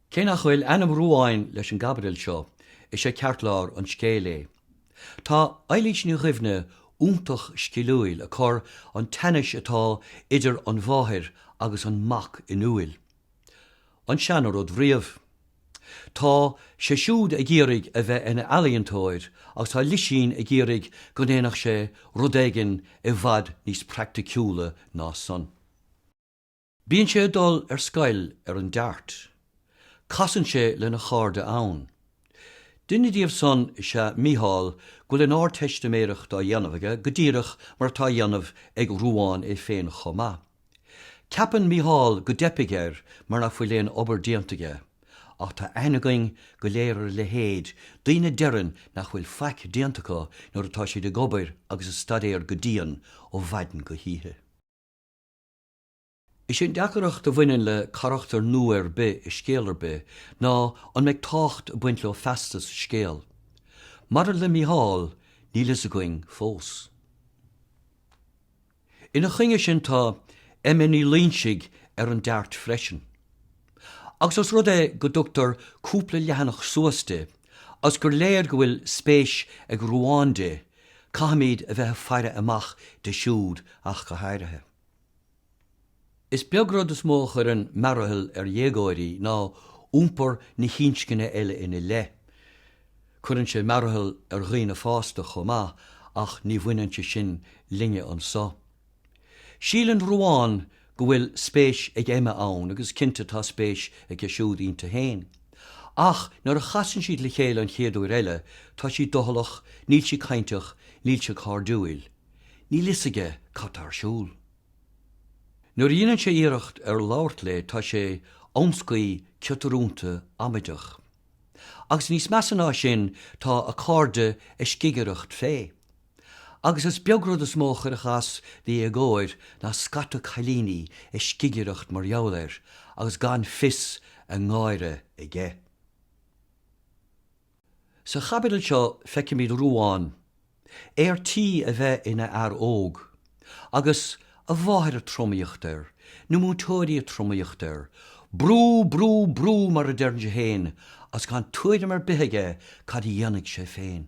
Cé nach bhfuil ainm Ruáin leis an gcaibidil seo, is é ceartlár an scéil é. Tá Eilís Ní Dhuibhne iontach sciliúil ag cur an teannas atá idir an mháthair agus an mac in iúil. An seana-rud riamh. Tá sé siúd ag iarraidh a bheith ina ealaíontóir agus tá Lisín ag iarraidh go ndéanfadh sé rud éigin i bhfad níos praiticiúla ná san. Bíonn sé ag dul ar scoil ar an Dart. Casann sé lena chairde ann. Duine díobh san is ea Mícheál go bhfuil an Ardteistiméireacht á dhéanamh aige go díreach mar atá á dhéanamh ag Ruán é féin chomh maith. Ceapann Mícheál go dteipfidh air mar nach bhfuil aon obair déanta aige, ach tá aithne againn go léir ar a leithéid, daoine a deireann nach bhfuil faic déanta acu nuair atá siad ag obair agus ag staidéar go dian ó mhaidin go hoíche. Is é an deacracht a bhaineann le carachtar nua ar bith i scéal ar bith ná an mbeidh tábhacht ag baint leo feasta sa scéal. Maidir le Mícheál, níl a fhios againn fós. Ina choinne sin tá Emma Ní Loingsigh ar an Dart freisin. Agus os rud é go dtugtar cúpla leathanach suas di, agus gur léir go bhfuil spéis ag Ruán di, caithfimid a bheith ag faire amach di siúd ach go háirithe. Is beag rud is mó a chuireann mearathal ar dhéagóirí ná iompar na hinscne eile ina leith. Cuireann sé mearathal ar dhaoine fásta chomh maith ach ní bhaineann sé sin linne anseo. Síleann Ruán go bhfuil spéis ag Emma ann agus cinnte tá spéis aige siúd inti féin. Ach nuair a chasann siad le chéile an chéad uair eile, tá sí doicheallach, níl sí cainteach, níl sí cairdiúil. Níl fhios aige cad tá ar siúl. Nuair a dhéanann sé iarracht ar labhairt léi tá sé amscaí, ciotarúnta, amaideach. Agus níos measa ná sin tá a cairde ag scigireacht fé. Agus is beag rud is mó a chuirfeadh as do dhéagóir ná scata cailíní ag scigireacht mar gheall air agus gan fios a ngáire aige. Sa chaibidil seo feicimid Ruán, ar tí a bheith ina fhear óg, agus a mháthair ag tromaíocht air, na múinteoirí ag tromaíocht air, Brú, brú, brú, mar a deireann sé féin, agus gan tuairim ar bith aige cad a dhéanfaidh sé féin.